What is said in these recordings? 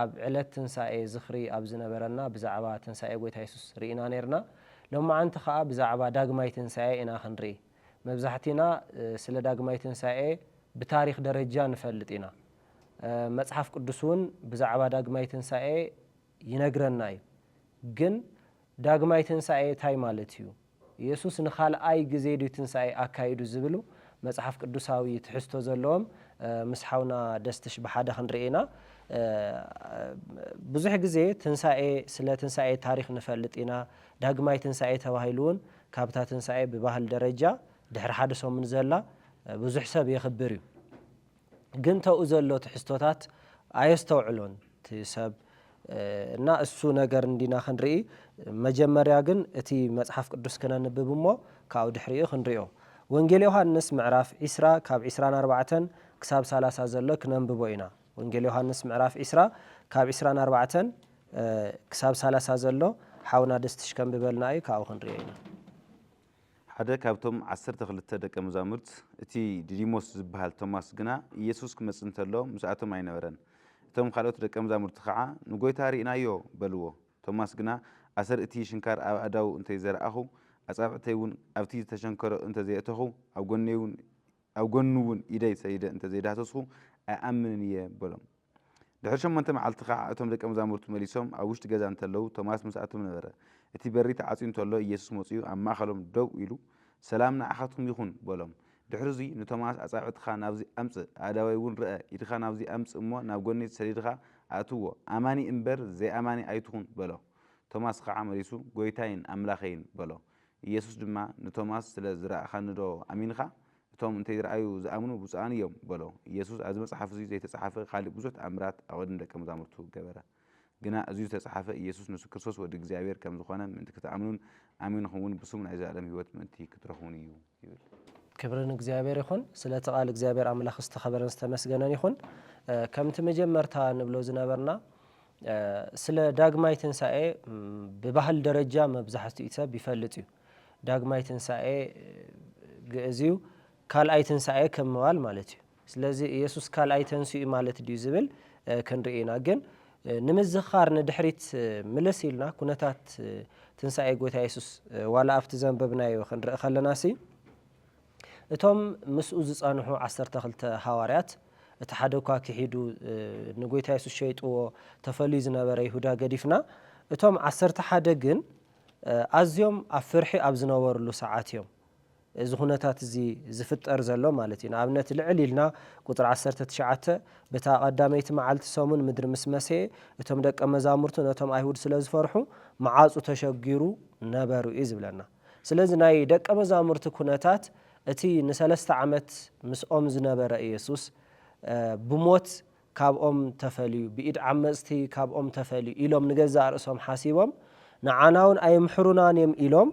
ኣብ ዕለት ትንሳኤ ዝኽሪ ኣብ ዝነበረና ብዛዕባ ትንሳኤ ጐይታ የሱስ ርኢና ኔርና። ሎምዓንቲ ኸኣ ብዛዕባ ዳግማይ ትንሳኤ ኢና ክንርኢ። መብዛሕቲና ስለ ዳግማይ ትንሳኤ ብታሪኽ ደረጃ ንፈልጥ ኢና። መጽሓፍ ቅዱስ እውን ብዛዕባ ዳግማይ ትንሳኤ ይነግረና እዩ። ግን ዳግማይ ትንሳኤ ታይ ማለት እዩ? የሱስ ንኻልኣይ ግዜ ድዩ ትንሳኤ ኣካይዱ ዝብሉ መጽሓፍ ቅዱሳዊ ትሕዝቶ ዘለዎም ምስ ሓውና ደስትሽ ብሓደ ክንርኢ ኢና። ብዙሕ ግዜ ትንሳኤ ስለ ትንሳኤ ታሪኽ ንፈልጥ ኢና፣ ዳግማይ ትንሳኤ ተባሂሉ ውን ካብታ ትንሳኤ ብባህል ደረጃ ድሕሪ ሓደ ሰሙን ዘላ ብዙሕ ሰብ የኽብር እዩ። ግን ተኡ ዘሎ ትሕዝቶታት ኣየስተውዕሎን እቲ ሰብ እና እሱ ነገር እንዲና ክንርኢ መጀመርያ ግን እቲ መጽሓፍ ቅዱስ ክነንብብ እሞ ካብኡ ድሕሪኡ ክንሪኦ ወንጌል ዮሃንስ ምዕራፍ ዒስራ ካብ ዒስራን ኣርባዕተን ክሳብ ሳላሳ ዘሎ ክነንብቦ ኢና ወንጌል ዮሃንስ ምዕራፍ ዒስራ ካብ ዒስራን ኣርባዕተን ክሳብ ሳላሳ ዘሎ ሓውና ደስትሽ ከንብበልና እዩ ካብኡ ክንሪኦ ኢና ሓደ ካብቶም ዓሰርተ ክልተ ደቀ መዛሙርት፣ እቲ ዲዲሞስ ዚብሃል ቶማስ ግና፣ ኢየሱስ ኪመጽእ እንተሎ ምስኣቶም ኣይነበረን። እቶም ካልኦት ደቀ መዛሙርቲ ኸዓ፣ ንጐይታ ርኢናዮ፣ በልዎ። ቶማስ ግና፣ ኣሰር እቲ ሽንካር ኣብ ኣእዳዉ እንተ ዘርኣኹ፣ ኣጻብዕተይውን ኣብቲ ዝተሸንከሮ እንተ ዘየእተኹ፣ ኣብ ጐኑውን ኢደይ ሰዲደ እንተ ዘይዳህሰስኩ፣ ኣይኣምንን እየ፣ በሎም። ድሕሪ ሸሞንተ መዓልቲ ኸኣ እቶም ደቀ መዛሙርቱ መሊሶም ኣብ ውሽጢ ገዛ እንተለዉ፣ ቶማስ ምስኣቶም ነበረ። እቲ በሪ ተዓጽዩ እንተሎ፣ ኢየሱስ መጺኡ ኣብ ማእከሎም ደው ኢሉ፣ ሰላም ንዓኻትኩም ይኹን፣ በሎም። ድሕርዙይ ንቶማስ ኣጻብዕትኻ ናብዚ ኣምጽእ፣ ኣእዳወይውን ርኣ፣ ኢድኻ ናብዚ ኣምጽእ እሞ ናብ ጎኒ ሰዲድኻ ኣእትዎ፣ ኣማኒ እምበር ዘይኣማኒ ኣይትኹን፣ በሎ። ቶማስ ኸኣ መሊሱ፣ ጐይታይን ኣምላኸይን፣ በሎ። ኢየሱስ ድማ ንቶማስ ስለ ዝረኣኻኒዶ ኣሚንኻ? እቶም እንተይረኣዩ ዝኣምኑ ብፁዓን እዮም በሎ። ኢየሱስ ኣብዚ መጽሓፍ እዙይ ዘይተጸሓፈ ኻሊእ ብዙሕ ተኣምራት ኣብ ቕድሚ ደቀ መዛሙርቱ ገበረ። ግና እዙይ ዝተጸሓፈ ኢየሱስ ንሱ ክርስቶስ ወዲ እግዚኣብሔር ከም ዝኾነ ምእንቲ ክትኣምኑን ኣሚንኹምውን ብስሙ ናይ ዘለኣለም ሕይወት ምእንቲ ክትረኽቡን እዩ ይብል። ክብሪ ንእግዚኣብሔር ይኹን ስለ እቲ ቃል እግዚኣብሔር ኣምላኽ ዝተኸበረን ዝተመስገነን ይኹን። ከምቲ መጀመርታ ንብሎ ዝነበርና ስለ ዳግማይ ትንሳኤ ብባህል ደረጃ መብዛሕትኡ ሰብ ይፈልጥ እዩ። ዳግማይ ትንሳኤ ግእዝ እዩ ካልኣይ ትንሳኤ ከም ምባል ማለት እዩ ስለዚ ኢየሱስ ካልኣይ ተንስኡ እዩ ማለት ድዩ ዝብል ክንርኢ ኢና ግን ንምዝኻር ንድሕሪት ምልስ ኢልና ኩነታት ትንሳኤ ጎይታ የሱስ ዋላ ኣብቲ ዘንበብናዮ ክንርኢ ከለና ሲ እቶም ምስኡ ዝጸንሑ ዓሰርተ ክልተ ሃዋርያት እቲ ሓደ እኳ ክሒዱ ንጎይታ የሱስ ሸይጥዎ ተፈልዩ ዝነበረ ይሁዳ ገዲፍና እቶም ዓሰርተ ሓደ ግን ኣዝዮም ኣብ ፍርሒ ኣብ ዝነበርሉ ሰዓት እዮም እዚ ኩነታት እዚ ዝፍጠር ዘሎ ማለት እዩ። ንኣብነት ልዕል ኢልና ቁጽሪ ዓሰርተ ትሽዓተ በታ ቀዳመይቲ መዓልቲ ሰሙን ምድሪ ምስ መሰየ እቶም ደቀ መዛሙርቱ ነቶም ኣይሁድ ስለ ዝፈርሑ መዓጹ ተሸጊሩ ነበሩ እዩ ዝብለና። ስለዚ ናይ ደቀ መዛሙርቲ ኩነታት እቲ ንሰለስተ ዓመት ምስኦም ዝነበረ ኢየሱስ ብሞት ካብኦም ተፈልዩ፣ ብኢድ ዓመጽቲ ካብኦም ተፈልዩ ኢሎም ንገዛእ ርእሶም ሓሲቦም ንዓናውን ኣይምሕሩናን እዮም ኢሎም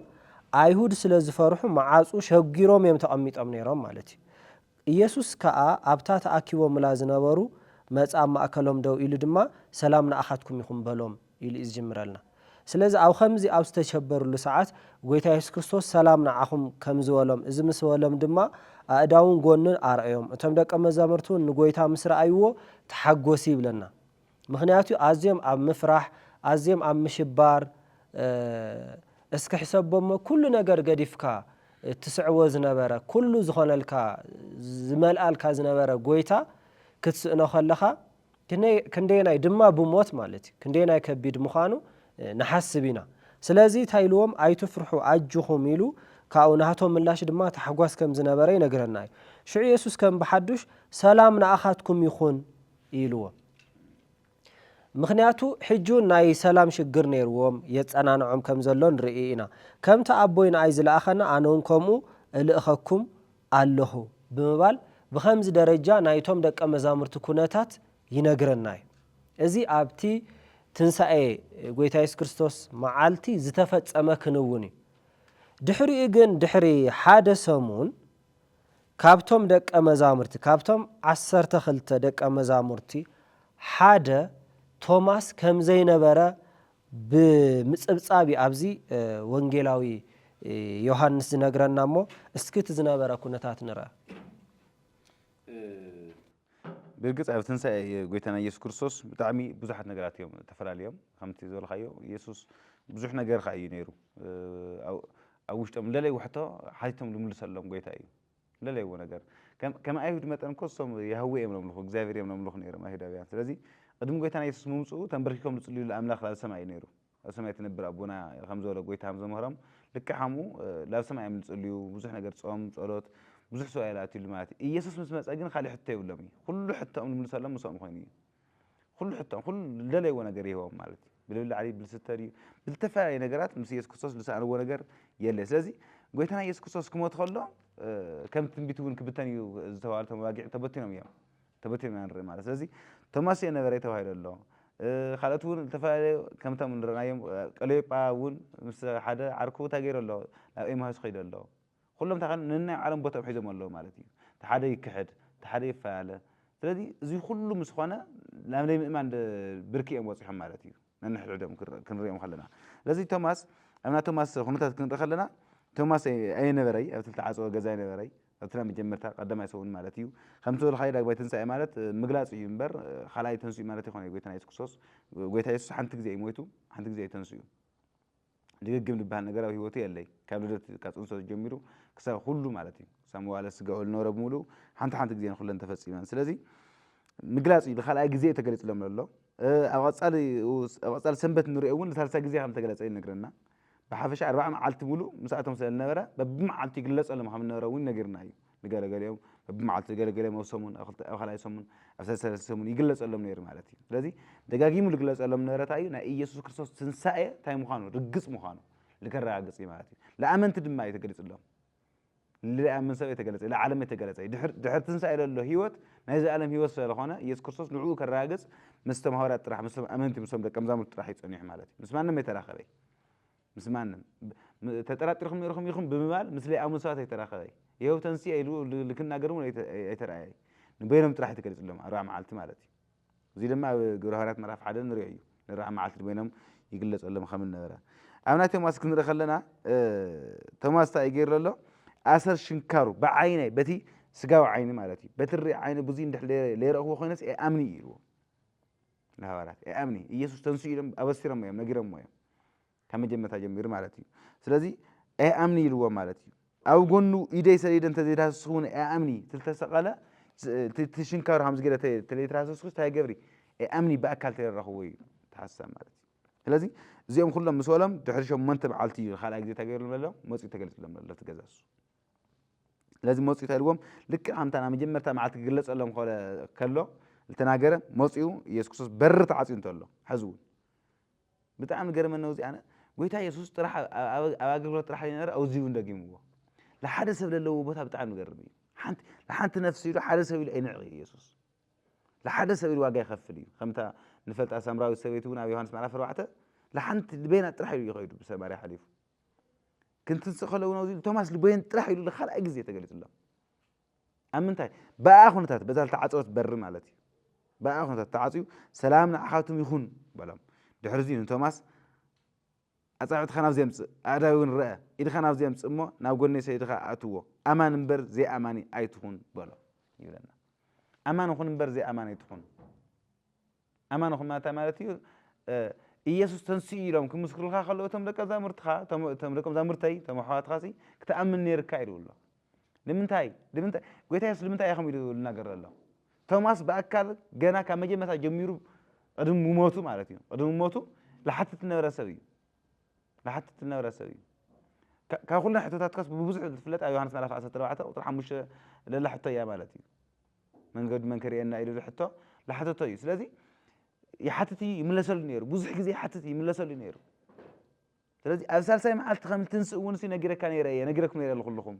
ኣይሁድ ስለ ዝፈርሑ መዓጹ ሸጒሮም እዮም ተቐሚጦም ነይሮም ማለት እዩ። ኢየሱስ ከኣ ኣብታ ተኣኪቦምላ ዝነበሩ መጻ ኣብ ማእከሎም ደው ኢሉ ድማ ሰላም ንኣኻትኩም ይኹን በሎም። ኢሉ እዩ ዝጅምረልና። ስለዚ ኣብ ኸምዚ ኣብ ዝተቸበርሉ ሰዓት ጎይታ የሱስ ክርስቶስ ሰላም ንዓኹም ከም ዝበሎም እዚ ምስ በሎም ድማ ኣእዳውን ጎኑን ኣርኣዮም። እቶም ደቀ መዛሙርቲ እውን ንጎይታ ምስ ረኣይዎ ተሓጎሲ ይብለና። ምኽንያቱ ኣዝዮም ኣብ ምፍራሕ ኣዝዮም ኣብ ምሽባር እስኪ ሕሰቦሞ ኩሉ ነገር ገዲፍካ እትስዕቦ ዝነበረ ኩሉ ዝኾነልካ ዝመልኣልካ ዝነበረ ጎይታ ክትስእኖ ከለኻ ክንደየናይ ድማ ብሞት ማለት እዩ ክንደየናይ ከቢድ ምዃኑ ንሓስብ ኢና ስለዚ እንታይ ኢልዎም ኣይትፍርሑ ኣጅኹም ኢሉ ካብኡ ናህቶም ምላሽ ድማ ታሕጓስ ከም ዝነበረ ይነግረና እዩ ሽዑ የሱስ ከም ብሓዱሽ ሰላም ንኣኻትኩም ይኹን ኢልዎም ምክንያቱ ሕጂ ናይ ሰላም ሽግር ነይርዎም የጸናንዖም ከም ዘሎ ንርኢ ኢና ከምቲ ኣቦይ ንኣይ ዝለኣኸና ኣነ እውን ከምኡ እልእኸኩም ኣለኹ ብምባል ብኸምዚ ደረጃ ናይቶም ደቀ መዛሙርቲ ኩነታት ይነግረና እዩ። እዚ ኣብቲ ትንሳኤ ጎይታ የሱስ ክርስቶስ መዓልቲ ዝተፈጸመ ክንውን እዩ። ድሕሪኡ ግን ድሕሪ ሓደ ሰሙን ካብቶም ደቀ መዛሙርቲ ካብቶም ዓሰርተ ክልተ ደቀ መዛሙርቲ ሓደ ቶማስ ከም ዘይነበረ ብምጽብጻብ እዩ ኣብዚ ወንጌላዊ ዮሃንስ ዝነግረና እሞ እስኪ እቲ ዝነበረ ኩነታት ንርኣ። ብርግጽ ኣብ ትንሳኤ ጎይታና ኢየሱስ ክርስቶስ ብጣዕሚ ብዙሓት ነገራት እዮም ተፈላልዮም ከምቲ ዝበልካዮ ኢየሱስ ብዙሕ ነገር ከኣ እዩ ነይሩ ኣብ ውሽጦም ለለይ ውሕቶ ሓቲቶም ልምልሰሎም ጎይታ እዩ ለለይዎ ነገር ከም ከም ኣይሁድ መጠን እኮ እሶም ያህዌ እዮም ለምልኹ እግዚኣብሔር እዮም ለምልኹ ነይሮም ኣይሁዳውያን ስለዚ ቅድሚ ጎይታና የሱስ ምምጽኡ ተንበርኪኮም ልጽልዩሉ ኣምላኽ ላብ ሰማይ እዩ ነይሩ ኣብ ሰማይ ትነብር ኣቦና ከም ዝበሎ ጎይታ ከም ዘምህሮም ልክዕ ከምኡ ላብ ሰማይ እዮም ልጽልዩ ብዙሕ ነገር ጾም ጸሎት ብዙሕ ሰው ኣየላትዩሉ ማለት እዩ ኢየሱስ ምስ መጸ ግን ካልእ ሕቶ የብሎም እዩ ኩሉ ሕቶኦም ልምልሰሎም ምሶኦም ኮይኑ እዩ ኹሉ ሕቶ ኹሉ ልደለይዎ ነገር ይህቦም ማለት እዩ ብልብላዕ ድዩ ብልስተ ድዩ ብልተፈላለየ ነገራት ምስ ኢየሱስ ክርስቶስ ልሰኣንዎ ነገር የለ ስለዚ ጎይታና ኢየሱስ ክርስቶስ ክሞት ከሎ ከም ትንቢት እውን ክብተን እዩ ዝተባሃሉ እቶም ኣባጊዕ ተበቲኖም እዮም ተበቲኖም ኢና ንርኢ ማለት ስለዚ ቶማስ እየ ነበረ ተባሂሉ ኣሎ ካልኦት እውን ዝተፈላለዩ ከምቶም ንረእናዮም ቀለዮጳ እውን ምስ ሓደ ዓርኩ እንታይ ገይሩ ኣሎ ናብ ኤማሁስ ከይዱ ኣሎ ኹሎም እንታይ ኾይኖም ነናይ ባዕሎም ቦትኦም ሒዞም ኣለው ማለት እዩ። እቲ ሓደ ይክሕድ፣ እቲ ሓደ ይፈላለ። ስለዚ እዙይ ኹሉ ምስ ኾነ ናብ ናይ ምእማን ብርኪ እዮም በፂሖም ማለት እዩ ነንሕድሕዶም ክንሪኦም ኸለና። ስለዚ ቶማስ ኣብ ናይ ቶማስ ኹነታት ክንርኢ ኸለና ቶማስ ኣይነበረይ ኣብቲ ልተዓፀወ ገዛ ኣይነበረይ ኣብቲ ናይ መጀመርታ ቀዳማይ ሰሙን ማለት እዩ። ኸምቲ ዝበልኻዮ ዳግማይ ትንሳኤ ማለት ምግላፅ እዩ እምበር ኻልኣይ ተንሲኡ ማለት ኣይኮነይ ጎይታና የሱስ ክርስቶስ። ጎይታ የሱስ ሓንቲ ግዜ እዩ ሞይቱ ሓንቲ ግዜ እዩ ተንሲኡ። ድግግም ድበሃል ነገር ኣብ ሂወተይ የለይ ካብ ልደት ካብ ጽንሰት ጀሚሩ ክሳብ ኩሉ ማለት እዩ ክሳብ መዋእለ ስጋኡ ልነበረ ብምሉኡ ሓንቲ ሓንቲ ግዜ ንኩለን ተፈጺመን ስለዚ ምግላጽ እዩ ንካልኣይ ግዜ እዩ ተገሊጽሎም ዘሎ ኣብ ቀጻሊ ኣብ ቀጻሊ ሰንበት ንሪኦ እውን ንሳልሳይ ግዜ ከም ተገለጸ እዩ ነግረና ብሓፈሻ ኣርባዓ መዓልቲ ምሉእ ምስኣቶም ስለ ልነበረ በብመዓልቱ ይግለጸሎም ከም ነበረ እውን ነጊርና እዩ ንገለ ገሊኦም በብመዓልቱ ንገለ ገሊኦም ኣብ ሰሙን ኣብ ክልተ ኣብ ካልኣይ ሰሙን ኣብ ሰለስተ ሰለስተ ሰሙን ይግለጸሎም ነይሩ ማለት እዩ ስለዚ ደጋጊሙ ዝግለጸሎም ነበረ እንታይ እዩ ናይ ኢየሱስ ክርስቶስ ትንሳኤ እንታይ ምዃኑ ርግጽ ምዃኑ ልከረጋግጽ እዩ ማለት እዩ ለኣመንቲ ድማ እዩ ተገሊጽሎም ልኣምን ሰብ የተገለጸ ለዓለም የተገለጸ እዩ ድሕር ድሕር ትንሳኤ ለሎ ህይወት ናይ ዘኣለም ህይወት ስለ ዝኾነ ኢየሱስ ክርስቶስ ንዕኡ ከረጋግጽ ምስቶም ሃዋርያት ጥራሕ ምስቶም ኣመንቲ ምስቶም ደቀ መዛሙርቲ ጥራሕ እዩ ጸኒሑ ማለት እዩ ምስ ማንም የተራኸበ እዩ ምስ ማንም ተጠራጢርኩም ኢኹም ኢኹም ብምባል ምስ ሌኣ መስዋእት ኣይተራኸበ። ይሀው ተንሥኤ ኢሉ ልክናገር እውን ኣይተርኣየ። ንበይኖም ጥራሕ እዩ ተገሊጽሎም፣ ኣርብዓ መዓልቲ ማለት እዩ። እዙይ ድማ ኣብ ግብረ ሃዋርያት ምዕራፍ ሓደ ንሪኦ እዩ። ንኣርብዓ መዓልቲ ንበይኖም ይግለጸሎም ከም ዝነበረ። ኣብ ናይ ቶማስ ክንርኢ ከለና ቶማስ እንታይ እዩ ገይሩ ዘሎ? ኣሰር ሽንካሩ ብዓይነይ በቲ ስጋዊ ዓይኒ ማለት እዩ በቲ ርእ ዓይኒ ብዙይ እንድሕ ለይረእክዎ ኮይነስ ኤኣምኒ እዩ ኢልዎ። ንሃዋርያት ኣይኣምኒ ኢየሱስ ተንስኡ ኢሎም ኣበሲሮሞ እዮም ነጊሮሞ እዮም ካብ መጀመርታ ጀሚሩ ማለት እዩ ስለዚ ኣይኣምኒ ኢልዎ ማለት እዩ ኣብ ጎኑ ኢደይ ሰዲደ እንተዘይዳህስስኩ እውን ኣይኣምኒ ትልተሰቐለ ትሽንካሩ ከም ዝገለ ተለይትራሰስኩስ እንታይ ገብሪ ኣይኣምኒ ብኣካል ተረረኽዎ እዩ ተሓሳብ ማለት እዩ ስለዚ እዚኦም ኩሎም ምስ በሎም ድሕሪ ሸሞንተ መዓልቲ እዩ ካልኣይ ግዜ ተገይሩሎም ኣሎ መፅኡ ተገልፅሎም ኣሎ ትገዛሱ ስለዚ መጹ እንታይ ኢልዎም ልክዕ ከምታ ናይ መጀመርታ መዓልቲ ክግለጸሎም ከሎ ዝተናገረ መጺኡ ኢየሱስ ክርስቶስ በሪ ተዓጽዩ እንተሎ ሕዚ እውን ብጣዕሚ ገርመን ነው እዚ ኣነ ጎይታ ኢየሱስ ጥራሕ ኣብ ኣገልግሎት ጥራሕ ይነበረ ኣብዚ እውን ደጊምዎ ንሓደ ሰብ ዘለዎ ቦታ ብጣዕሚ ገርም እዩ ሓንቲ ንሓንቲ ነፍሲ ኢሉ ሓደ ሰብ ኢሉ ኣይንዕቕ እዩ ኢየሱስ ንሓደ ሰብ ኢሉ ዋጋ ይኸፍል እዩ ከምታ ንፈልጣ ሳምራዊት ሰበይቲ እውን ኣብ ዮሃንስ ምዕራፍ ኣርባዕተ ንሓንቲ በይና ጥራሕ ኢሉ ይኸይዱ ብሰማርያ ሓሊፉ ክንትንስእ ከለዉ ነዚ ኢሉ ቶማስ ልቦየን ጥራሕ ኢሉ ንካልኣይ ግዜ ተገሊጹሎም ኣብ ምንታይ ብኣ ኩነታት በዛ ዝተዓፀወት በሪ ማለት እዩ ብኣ ኩነታት ተዓፅዩ ሰላም ንዓኻቱም ይኹን በሎም ድሕሪ እዚኡ ንቶማስ ኣፃብዕትኻ ናብዚ ኣምፅእ ኣእዳዊ እውን ረአ ኢድኻ ናብዚ ኣምፅእ እሞ ናብ ጎኒ ሰይድኻ ኣእትዎ ኣማን እምበር ዘይኣማኒ ኣይትኹን በሎ ይብለና ኣማን ኹን እምበር ዘይኣማን ኣይትኹን ኣማንኹም ኣንታይ ማለት እዩ ኢየሱስ ተንሲኡ ኢሎም ክምስክሩልካ ከለዉ እቶም ደቀ መዛሙርትኻ እቶም ደቀ መዛሙርተይ እቶም ኣሕዋትኻሲ ክትኣምን ነይርካ ኢሉ ኣሎ ንምንታይ ንምንታይ ጎይታ የሱስ ንምንታይ ኢኹም ኢሉ ዝናገር ዘሎ ቶማስ ብኣካል ገና ካብ መጀመርታ ጀሚሩ ቅድሚ ሞቱ ማለት እዩ ቅድሚ ሞቱ ልሓትት ዝነበረ ሰብ እዩ ልሓትት ዝነበረ ሰብ እዩ ካብ ኩለን ሕቶታትካስ ብብዙሕ ዝፍለጥ ኣብ ዮሃንስ ምዕራፍ 14 ቁፅሪ 5 ለላ ሕቶ እያ ማለት እዩ መንገዱ መን ከርእየና ኢሉ ዝሕቶ ዝሓተቶ እዩ ስለዚ ይሓትት እዩ ይምለሰሉ ነይሩ ብዙሕ ግዜ ይሓትት እዩ ይምለሰሉ ነይሩ ስለዚ ኣብ ሳልሳይ መዓልቲ ከም ትንስእ እውን ሲ ነጊረካ ነይረ እየ ነጊረኩም ነይረ ንኩልኹም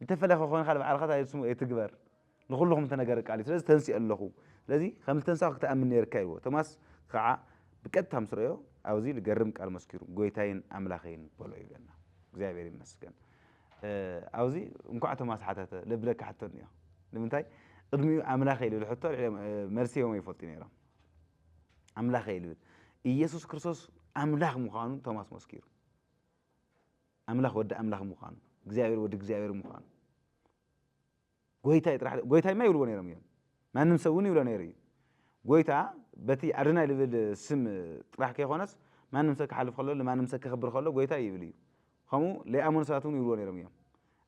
እንተፈለኸ ኮይንካ ንባዕልካ ታይስሙ ኣይትግበር ንኩልኹም ተነገረ ቃል እዩ ስለዚ ተንስኦ ኣለኹ ስለዚ ከም ዝተንሳኹ ክትኣምን ነይርካ ኢልዎ ቶማስ ከዓ ብቀጥታ ምስ ረዮ ኣብዚ ልገርም ቃል መስኪሩ ጎይታይን ኣምላኸይን በሎ ይብለና እግዚኣብሔር ይመስገን ኣብዚ እንኳዕ ቶማስ ሓተተ ለብለካ ሕቶ እኒኦ ንምንታይ ቅድሚኡ ኣምላከይ ልብል ሕቶ መልሲ ሂቦም ኣይፈልጡ ነይሮም ኣምላከይ ልብል ኢየሱስ ክርስቶስ ኣምላክ ምዃኑ ቶማስ መስኪሩ ኣምላክ ወዲ ኣምላክ ምዃኑ እግዚኣብሔር ወዲ እግዚኣብሔር ምዃኑ ጐይታይ ጥራሕ ዶ ጐይታይ እማ ይብልዎ ነይሮም እዮም፣ ማንም ሰብ እውን ይብሎ ነይሩ እዩ። ጐይታ በቲ ኣዶናይ ዝብል ስም ጥራሕ ከይኰነስ ማንም ሰብ ክሓልፍ ከሎ ንማንም ሰብ ከኽብር ከሎ ጐይታይ ይብል እዩ። ከምኡ ለይኣመኑ ሰባት እውን ይብልዎ ነይሮም እዮም።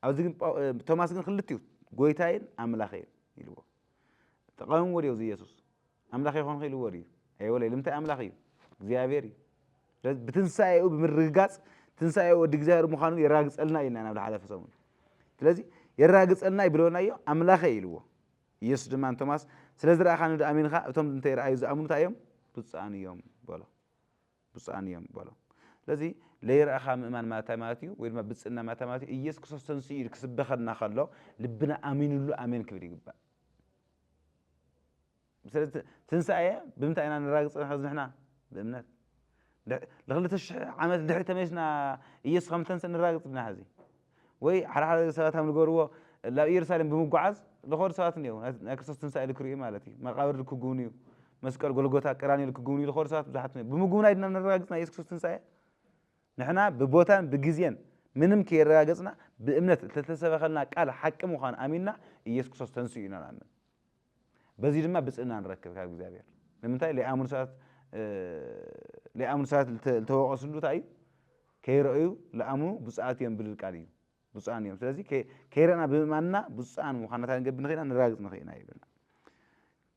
ኣብዚ ግን ጳው ቶማስ ግን ክልቲኡ ጐይታይን ኣምላኸይን ኢልዎ። ተቓዊምዎ ድዮ እዚ የሱስ? ኣምላኽ ኣይኮንኹ ኢልዎ ድዩ? ኣይበሎይ። ልምንታይ ኣምላኽ እዩ? እግዚኣብሔር እዩ። ስለዚ ብትንሳኤኡ ብምርግጋጽ ትንሳኤኡ ወዲ እግዚኣብሔር ምዃኑ የራግጸልና እዩ ኢልና ናብ ዝሓለፈ ሰሙን። ስለዚ የራግጸልና እዩ ብሎናዮ ኣምላኸ እዩ ኢልዎ። ኢየሱስ ድማ ንቶማስ ስለ ዝረኣኻኒ ዶ ኣሚንኻ እቶም እንተ ረኣዩ ዝኣምኑ እንታይ እዮም ብፁዓን እዮም በሎ። ብፁዓን እዮም በሎ። ስለዚ ለይረኣኻ ምእማን ማለት እንታይ ማለት እዩ ወይ ድማ ብፅእና ማለት እንታይ ማለት እዩ ኢየሱስ ክርስቶስ ተንስኡ ኢሉ ክስበኸና ከሎ ልብና ኣሚንሉ ኣሜን ክብል ይግባእ ስለዚ ትንሳኤ ብምንታይ ኢና ነራግጸ ሕዚ ንሕና? ብእምነት። ልክልተ ሽሕ ዓመት ድሕሪት ተመሊስና ኢየሱስ ከም ዝተንስእ ነራግጽ ድና ሕዚ? ወይ ሓደ ሓደ ሰባት ከም ዝገብርዎ ናብ ኢየሩሳሌም ብምጓዓዝ ልኸዱ ሰባት እኔዉ ናይ ክርስቶስ ትንሳኤ ልክርእዩ ማለት እዩ መቃብር ልክጉብንዩ መስቀል ጎልጎታ ቀራንዮ ልክጉብንዩ ልኸዱ ሰባት ብዙሓት እኔዉ ብምጉብናይ ድና ነራግጽ ናይ ኢየሱስ ክርስቶስ ትንሳኤ? ንሕና ብቦታን ብግዜን ምንም ከየረጋገጽና ብእምነት እተተሰበኸልና ቃል ሓቂ ምዃኑ ኣሚንና ኢየሱስ ክርስቶስ ተንሲኡ ኢና ንኣምን። በዚ ድማ ብጽእና ንረክብ ካብ እግዚኣብሔር። ንምንታይ ለይኣምኑ ሰባት ለይኣምኑ ሰባት ዝተወቐስሉ እንታይ እዩ? ከይረእዩ ለኣምኑ ብፁዓት እዮም ብልል ቃል እዩ። ብፁዓን እዮም። ስለዚ ከይረእና ብምእማንና ብፁዓን ምዃንና እንታይ ክንገብር ንኽእል ኢና? ነራግጽ ንኽእል ኢና ይብለና።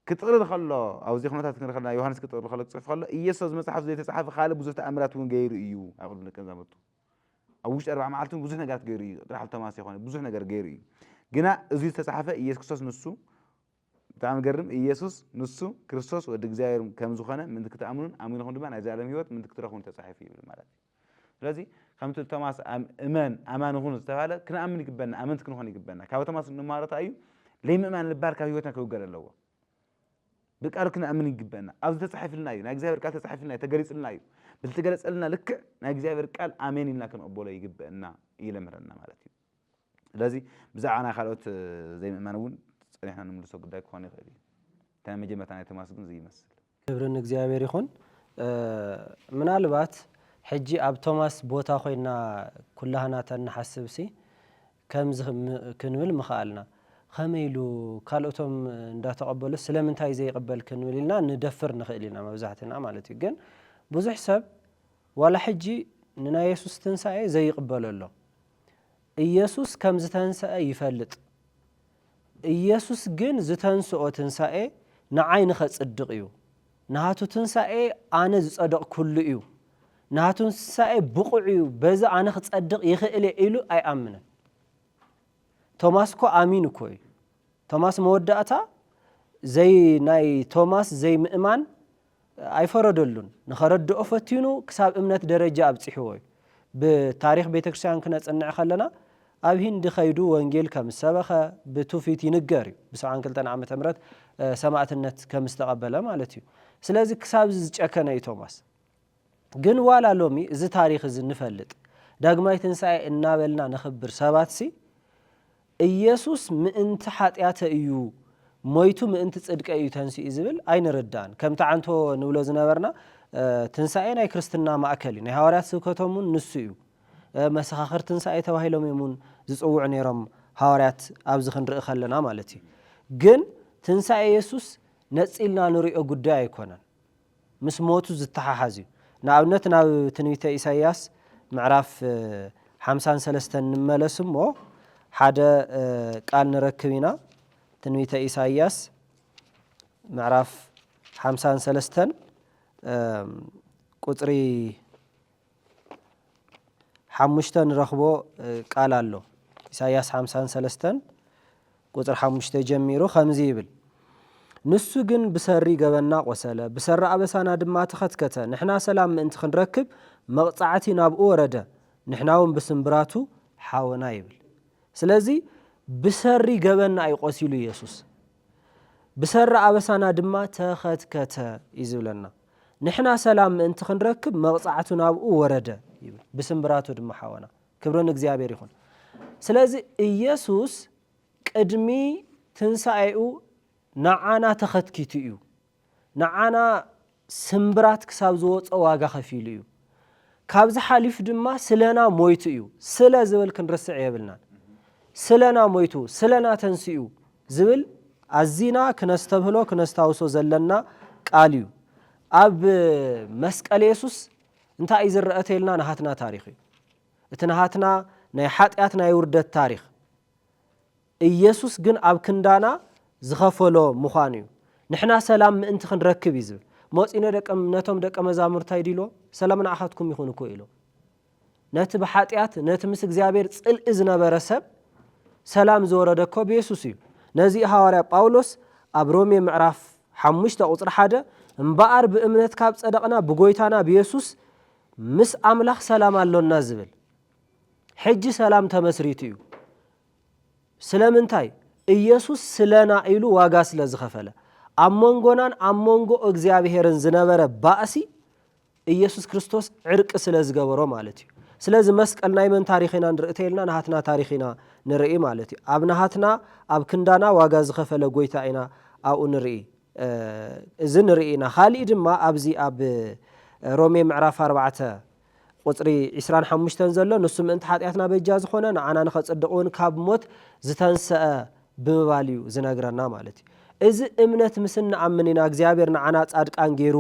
ክጥቕልል ከሎ ኣብዚ ኩነታት ክንርኢ ከለና ዮሃንስ ክጥቕልል ከሎ ክጽሕፍ ከሎ ኢየሱስ ኣብዚ መጽሓፍ ዘይተጻሕፈ ካልእ ብዙሕ ተኣምራት እውን ገይሩ እዩ ኣብ ቅድሚ ደቀ መዛሙርቱ ኣብ ውሽጢ ኣርባዕ መዓልቲ እውን ብዙሕ ነገራት ገይሩ እዩ ጥራሕ ቶማስ ይኾነ ብዙሕ ነገር ገይሩ እዩ ግና እዚ ዝተጻሕፈ ኢየሱስ ክርስቶስ ንሱ ብጣዕሚ ገርም ኢየሱስ ንሱ ክርስቶስ ወዲ እግዚኣብሔር ከም ዝኾነ ምንቲ ክትኣምኑን ኣሚንኹም ድማ ናይ ዘላለም ህይወት ምንቲ ክትረኽቡን ተጻሒፉ ይብል ማለት እዩ ስለዚ ከምቲ ቶማስ እመን ኣማኒ ኩን ዝተባህለ ክንኣምን ይግበና ኣመንቲ ክንኾን ይግበና ካብ ቶማስ እንማሮ እንታይ እዩ ለይምእማን ልባል ካብ ህይወትና ክውገድ ኣለዎ ብቃሉ ክንኣምን ይግበና ኣብዚ ተፃሒፍልና እዩ ናይ እግዚኣብሔር ቃል ተፃሒፍልና እዩ ተገሊፅልና እዩ ብዝተገለፀልና ልክዕ ናይ እግዚኣብሔር ቃል ኣሜን ኢልና ክንቕበሎ ይግበእና ይለምረና ማለት እዩ ስለዚ ብዛዕባ ናይ ካልኦት ዘይምእማን እውን ጸኒሕና ንምልሶ ጉዳይ ክኾን ይኽእል እዩ። እቲ ናይ መጀመርታ ናይ ቶማስ ግን እዚ ይመስል። ክብሪ ንእግዚኣብሔር ይኹን። ምናልባት ሕጂ ኣብ ቶማስ ቦታ ኮይንና ኩላህና ተንሓስብሲ ከምዚ ክንብል ምኸኣልና፣ ከመይ ኢሉ ካልኦቶም እንዳተቐበሉስ ስለምንታይ ዘይቕበል ክንብል ኢልና ንደፍር ንኽእል ኢና መብዛሕትና ማለት እዩ። ግን ብዙሕ ሰብ ዋላ ሕጂ ንናይ የሱስ ትንሳኤ ዘይቕበሎ ኣሎ። ኢየሱስ ከም ዝተንሰኣ ይፈልጥ። ኢየሱስ ግን ዝተንስኦ ትንሳኤ ንዓይ ንኸጽድቕ እዩ። ናቱ ትንሳኤ ኣነ ዝጸደቕኩሉ እዩ። ናቱ ትንሳኤ ብቑዕ እዩ በዚ ኣነ ክጸድቕ ይኽእል እየ ኢሉ ኣይኣምንን። ቶማስ እኮ ኣሚኑ እኮ እዩ። ቶማስ መወዳእታ ዘይ ናይ ቶማስ ዘይምእማን ኣይፈረደሉን ንኸረድኦ ፈቲኑ ክሳብ እምነት ደረጃ ኣብጺሕዎ እዩ ብታሪኽ ቤተክርስቲያን ክነጽንዕ ከለና ኣብ ሂንዲ ከይዱ ወንጌል ከምዝሰበኸ ብቱፊት ይንገር እዩ ብሰብዓን ክልተን ዓመተ ምህረት ሰማእትነት ከምዝተቐበለ ማለት እዩ ስለዚ ክሳብዚ ዝጨከነ እዩ ቶማስ ግን ዋላ ሎሚ እዚ ታሪኽ እዚ ንፈልጥ ዳግማይ ትንሳኤ እናበልና ነኽብር ሰባትሲ እየሱስ ምእንቲ ሓጢኣተ እዩ ሞይቱ ምእንቲ ጽድቀይ እዩ ተንሲኡ ዝብል ኣይንርዳእን። ከምቲ ዓንቶ ንብሎ ዝነበርና ትንሳኤ ናይ ክርስትና ማእከል እዩ። ናይ ሃዋርያት ስብከቶም እውን ንሱ እዩ። መሰኻኽር ትንሳኤ ተባሂሎም እዮም እውን ዝጽውዑ ነይሮም ሃዋርያት ኣብዚ ክንርኢ ከለና ማለት እዩ። ግን ትንሳኤ የሱስ ነጺልና ንርእዮ ጉዳይ ኣይኮነን። ምስ ሞቱ ዚተሓሓዝ እዩ። ንኣብነት ናብ ትንቢተ ኢሳይያስ ምዕራፍ ሓምሳን ሰለስተን ንመለስ እሞ ሓደ ቃል ንረክብ ኢና። ትንቢተ ኢሳይያስ ምዕራፍ ሓምሳን ሰለስተን ቁጽሪ ሓሙሽተ ንረኽቦ ቃል ኣሎ። ኢሳይያስ ሓምሳን ሰለስተን ቁጽሪ ሓሙሽተ ጀሚሩ ከምዚ ይብል፣ ንሱ ግን ብሰሪ ገበንና ቈሰለ፣ ብሰሪ ኣበሳና ድማ ተኸትከተ፣ ንሕና ሰላም ምእንቲ ኽንረክብ፣ መቕጻዕቲ ናብኡ ወረደ፣ ንሕናውን ብስምብራቱ ሓወና ይብል። ስለዚ፣ ብሰሪ ገበንና እዩ ቈሲሉ የሱስ። ብሰሪ ኣበሳና ድማ ተኸትከተ እዩ ዝብለና። ንሕና ሰላም ምእንቲ ክንረክብ መቕጻዕቱ ናብኡ ወረደ ይብል። ብስምብራቱ ድማ ሓወና። ክብሪ ንእግዚኣብሔር ይኹን። ስለዚ ኢየሱስ ቅድሚ ትንሣኤኡ ንዓና ተኸትኪቱ እዩ። ንዓና ስምብራት ክሳብ ዝወጾ ዋጋ ከፊሉ እዩ። ካብዚ ሓሊፉ ድማ ስለና ሞይቱ እዩ። ስለ ዝብል ክንርስዕ የብልናን። ስለና ሞይቱ፣ ስለና ተንሲኡ ዝብል ኣዚና ክነስተብህሎ ክነስታውሶ ዘለና ቃል እዩ። ኣብ መስቀል የሱስ እንታይ እዩ ዝረኣ ተይልና ናሃትና ታሪኽ እዩ። እቲ ናሃትና ናይ ሓጢኣት ናይ ውርደት ታሪኽ። ኢየሱስ ግን ኣብ ክንዳና ዝኸፈሎ ምዃኑ እዩ። ንሕና ሰላም ምእንቲ ክንረክብ እዩ ዝብል። ሞጺነ ነቶም ደቀ መዛሙርታይ ዲሎ ሰላም ንዓኻትኩም ይኹን እኮ ኢሎም። ነቲ ብሓጢኣት ነቲ ምስ እግዚኣብሔር ጽልኢ ዝነበረ ሰብ ሰላም ዝወረደ እኮ ብየሱስ እዩ። ነዚ ሃዋርያ ጳውሎስ ኣብ ሮሜ ምዕራፍ ሓሙሽተ ቁጽሪ ሓደ እምበኣር ብእምነት ካብ ጸደቕና ብጎይታና ብየሱስ ምስ ኣምላኽ ሰላም ኣሎና ዝብል ሕጂ ሰላም ተመስሪቱ እዩ። ስለምንታይ? ኢየሱስ ስለና ኢሉ ዋጋ ስለ ዝኸፈለ። ኣብ መንጎናን ኣብ መንጎ እግዚኣብሔርን ዝነበረ ባእሲ ኢየሱስ ክርስቶስ ዕርቂ ስለ ዝገበሮ ማለት እዩ። ስለዚ መስቀል ናይ መን ታሪኽ ኢና ንርኢ ተይልና ናሃትና ታሪኽ ኢና ንርኢ ማለት እዩ። ኣብ ናሃትና ኣብ ክንዳና ዋጋ ዝኸፈለ ጎይታ ኢና ኣብኡ ንርኢ። እዚ ንርኢ ኢና። ካሊእ ድማ ኣብዚ ኣብ ሮሜ ምዕራፍ ኣርባዕተ። ቁጽሪ ዕስራን ሓሙሽተን ዘሎ ንሱ ምእንቲ ሓጢኣትና በጃ ዝኾነ ንዓና ንኸጽድቕ እውን ካብ ሞት ዝተንሰኣ ብምባል እዩ ዝነግረና ማለት እዩ። እዚ እምነት ምስ እንኣምን ኢና እግዚኣብሔር ንዓና ጻድቃን ገይሩ